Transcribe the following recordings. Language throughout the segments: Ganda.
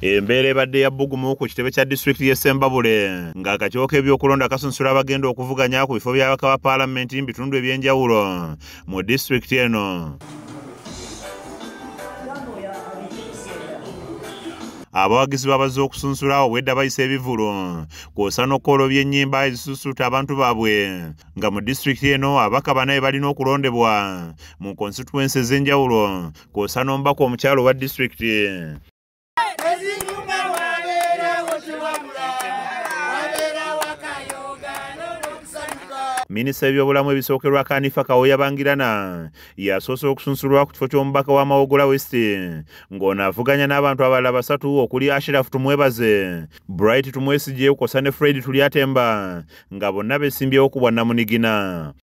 Embeera ebadde ya bbugumu ku kitebe kya disitulikiti y'e Ssembabule ng'akakiwo k'ebyokulonda kasunsula abagenda okuvuganya ku bifo by'abaka ba paalamenti mu bitundu eby'enjawulo mu disitulikiti eno. abawagizi babazze okusunsula obwedda bayisa ebivulu kwosa n'okukolobya ennyimba ezisusuuta abantu baabwe nga mu disitulikiti eno abaka banaye balina okulondebwa mu konsituwensi ez'enjawulo kwosa n'omubaka omukyalo wa disitulikiti minisita w'ebyobulamu ebisookerwa kanifa kawoya bangirana yasoose okusunsulwa ku kifo ky'omubaka wa mawogola west ng'ono avuganya n'abantu abalala basatu okuli ashiraf tumwebaze bright tumwesigye kwosa ne fred tulyatemba nga bonna besimbyewo ku bwannamunigina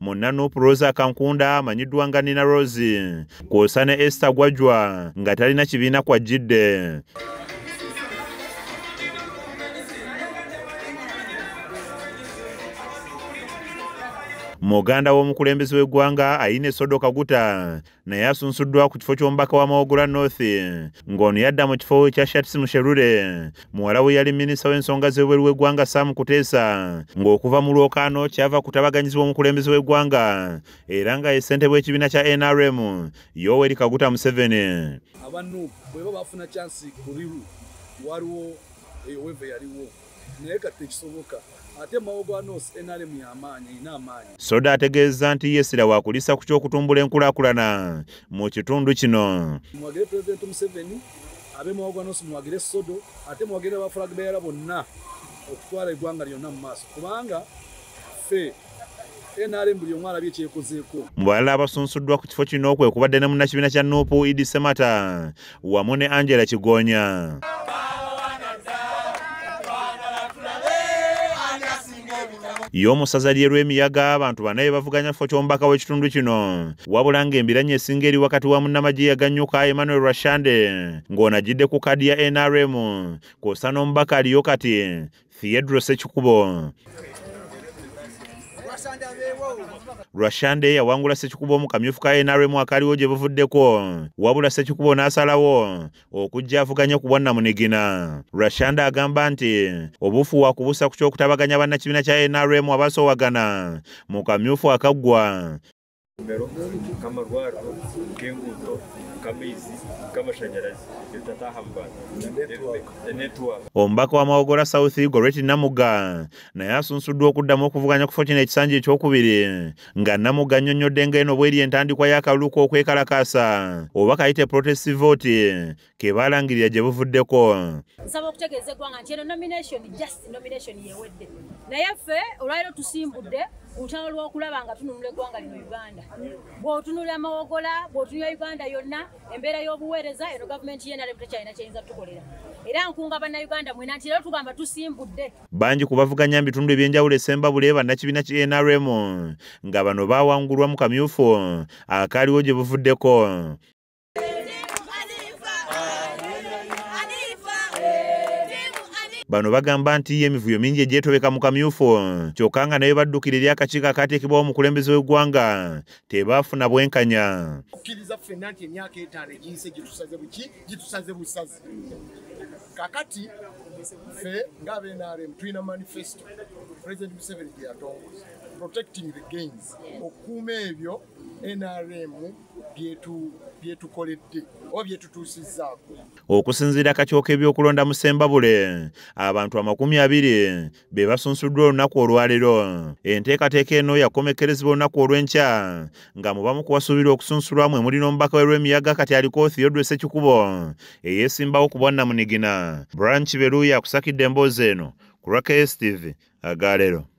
munna nup rosa kankunda amanyiddwa nga nina rosi kwosa ne ester gwajwa nga talina kibiina kwajjidde muganda w'omukulembeze w'eggwanga ayina esodo kaguta naye asunsuddwa ku kifo ky'omubaka wa Mawogola North ng'ono yadda mu kifo kya Shatsi Musherure muwala we yali minisita w'ensonga z'ebweru w'eggwanga Sam Kuteesa ng'okuva mu lwokaano kyava kutabaganyizibwa omukulembeze w'eggwanga era nga ye ssentebe w'ekibiina kya NRM Yoweri Kaguta Museveni. Aba Nup bweba bafuna kyansi ku Riru waliwo eyo weva yaliwo. naye kati tekisoboka ate mawo gwa nos nrm yamaanyi erina amaanyi soda ategeeza nti yesira wakulisa ku kyokutumbula enkulakulana mu kitundu kino muwagire pulezidenti museveni abe mawo gwa nos muwagire sodo ate muwagire abafulagbeera bonna okutwala eggwanga lyonna mu maaso kubanga fe nrm buli omu alabye kyekozeeko mu balala abasunsuddwa ku kifo kino kwe kubadde ne munnakibiina kya nuupu idi semata wamu ne angela kigonya y'omusaza lyerwemiyaga abantu bana ye bavuganya kifo ky'omubaka w'ekitundu kino wabula ng'embiranye esinga eri wakati wa munnamagye yaganyuka emmanuel rashande ng'onajjidde ku kadi ya nrm kwosa n'omubaka aliyo kati theodro sekikubo rwashande yawangula sekikubo omu kamyufu ka nrm akaliwo gye buvuddeko wabula sekikubo n'asalawo okujja avuganya ku bwannamunigina rwashande agamba nti obufu wakubusa ku ky'okutabaganya bannakibiina kya nrm abasoowagana mu kamyufu akaggwa amasomero nk'amarwariro nk'enguuto nk'amaizi nk'amashanyarazi ebitataha mu bantu enetiwaka omubaka wa mawogora south goreti namuga naye asunsuddwa okuddamu okuvuganya kufo kino ekisanja ekyokubiri nga namuga annyonnyodde nga eno bweri entandikwa y'akalulu k'okwekalakaasa oba kayite protest vote ke baalangirira gye buvuddeko nsaba okutegeeza eggwanga nti eno nomination just nomination yewedde naye ffe olwaliro tusimbudde olutalo lw'okulaba nga tununula eggwanga lino uganda bw'otunula amawogola bw'otunula uganda yonna embeera y'obuweereza eno gavumenti yenalem tekyalina kyeyinza tukolera era nkunga bannayuganda mwena nti era tugamba tusimbudde bangi ku bavuganya mu bitundu ebyenjawulo esembabule bannakibiina ki nrm nga bano baawangulwa mu kamyufu akaaliwo gye buvuddeko Bano bagamba nti emivuyo mingi egyetobeka mu kamyufu kyokka nga naye baddukira eri akakiiko akaateekebwawo omukulembeze w'eggwanga tebaafuna bwenkanya okkiriza ffenna nti emyaka etaano egiyise gitusaze buki gitusaze busazi kakati ffe ng'abenrm tulina manifesto president museveni gye yatongoza protecting the gains okukuuma ebyo nrm byetukoledde oba byetutuusizzaako okusinziira kakyoka ebyokulonda mu sembabule abantu amakumi abiri be basunsuddwa olunaku olwaleero enteekateeka eno yakomekkerezebwa olunaku olw'enkya nga mu bamu kuwasuubirwa okusunsulwamu emuli n'omubaka we lw'emiyaga kati aliko theodre sekikubo eyeesimbawo ku bwannamunigina branch beluuya akusakidde emboozi eno ku rwakstv agaleero